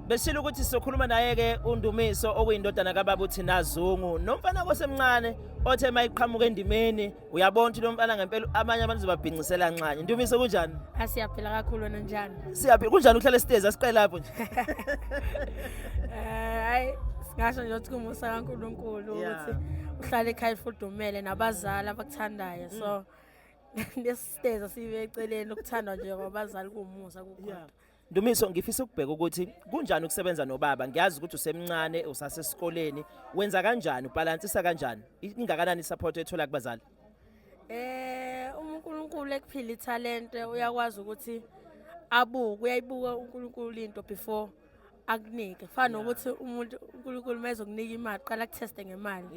besishilo ukuthi sizokhuluma naye-ke undumiso okuyindodana kababa uthi nazungu nomfana kosemncane othe uma iqhamuka endimeni uyabona ukuthi lo mfana ngempela abanye abantu zobabhincisela nxanye ndumiso kunjani asiyaphila ah, kakhulu wena njani siyaphila kunjani uhlala esitezi asiqele lapho nje eh, hayi ngasho nje ukuthi kumusa kaNkuluNkulu ukuthi uhlale ekhaya ifudumele nabazali abakuthandayo so mm. nesiteza sibe eceleni ukuthandwa nje kwabazali kumusa kukhona Ndumiso ngifisa ukubheka ukuthi kunjani ukusebenza nobaba ngiyazi ukuthi usemncane usasesikoleni wenza kanjani ubalansisa kanjani ingakanani support ethola kubazali Eh uNkulunkulu ekuphila ithalente uyakwazi ukuthi abuke uyayibuka uNkulunkulu into before akunike fana nokuthi umuntu uNkulunkulu mezokunika imali qala kutheste ngemali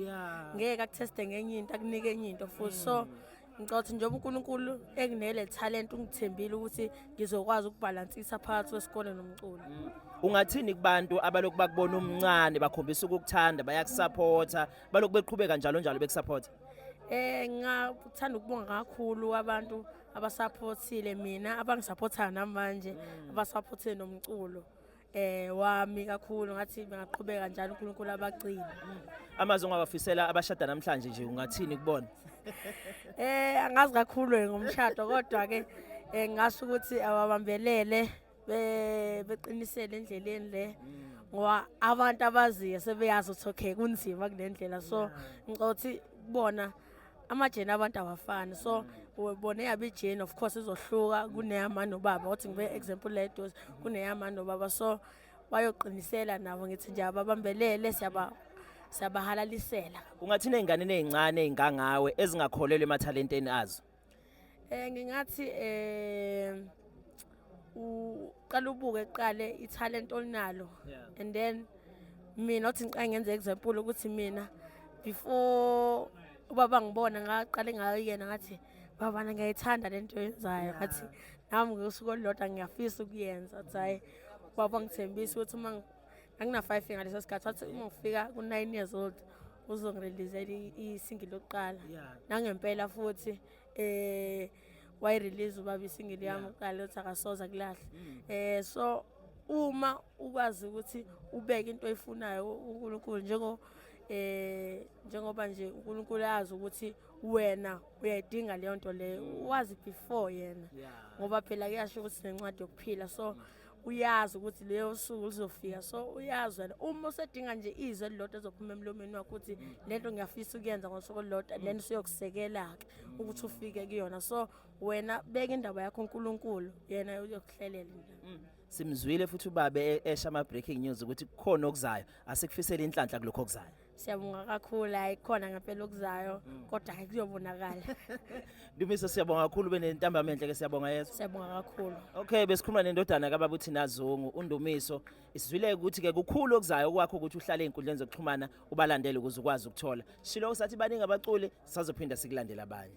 ngeke akutheste ngenye into akunike enye into futhi so mm. Ngicabanga ukuthi njengoba uNkulunkulu enginele talent ungithembile ukuthi ngizokwazi ukubhalansisa phakathi kwesikole nomculo. Mm. Ungathini kubantu abalokhu bakubona umncane bakhombisa ukukuthanda bayakusupporta balokhu beqhubeka njalo njalo bekusupporta? Eh ngathanda ukubonga kakhulu abantu abasupportile mina abangisupportayo namanje mm. abasupportile nomculo. eh wami kakhulu ngathi bengaqhubeka njalo uNkulunkulu abagcina amazwi ongawafisela abashada namhlanje nje ungathini kubona eh angazi kakhulu ngomshado kodwa ke eh, ngasho ukuthi awabambelele beqinisele endleleni le ngoba abantu abaziyo sebeyazi ukuthi okay kunzima kulendlela so ngicothi bona amajeni abantu awafani so ubone yaba ijeni of course izohluka kuneyama nobaba othi ngibe example la edosi kuneyama nobaba so bayoqinisela nabo ngithi nje ababambelele siyaba siyabahalalisela ungathina ezinganeni ezincane ezingangawe ezingakholelwa emathalenteni azo Eh ngingathi eh uqala ubuke kuqale italent olinalo and then mina othi ngiqale ngenze example ukuthi mina before ubaba ngibona ngaqale ngayena ngathi babana ngiyayithanda lento yenzayo ngathi nami ngosuku olulodwa ngiyafisa ukuyenza athi hayi ubaba ngithembisa ukuthi uma angina-five year ngaleso sikhathi wathi uma ngifika ku-nine years old uzongirelizela isingi lokuqala nangempela futhi um wayirelease ubaba isingili yami kuqala lokuthi akasoza kulahle um mm. so uma ukwazi ukuthi ubeke into oyifunayo unkulunkulu njengo eh njengoba nje uNkulunkulu azi ukuthi wena uyayidinga leyo nto leyo wazi before yena ngoba phela kuyasho ukuthi nencwadi yokuphila so uyazi ukuthi leyo suku lizofika so uyazi wena uma usedinga nje izwe elilodwa ezophuma emlomeni wakho ukuthi lento ngiyafisa ukuyenza ngosuku olulodwa then usuyokusekela-ke ukuthi ufike kuyona so wena beka indaba yakho unkulunkulu yena uyokuhlelela nje mm. simzwile futhi ubabe e-, esha ama-breaking news ukuthi kukhona okuzayo asikufisele inhlanhla kulokho okuzayo Siyabonga kakhulu hayi khona ngempela okuzayo mm. kodwa hayi kuyobonakala. Ndumisa siyabonga kakhulu benentambama enhle ke siyabonga Yesu. Siyabonga kakhulu. Okay besikhuluma nendodana kaBaba uThina Zungu uNdumiso isizwile ukuthi ke kukhulu okuzayo kwakho ukuthi uhlale ezinkundleni zokuxhumana ubalandele ukuze ukwazi ukuthola. Shilo usathi baningi abaculi sazophinda sikulandela abanye.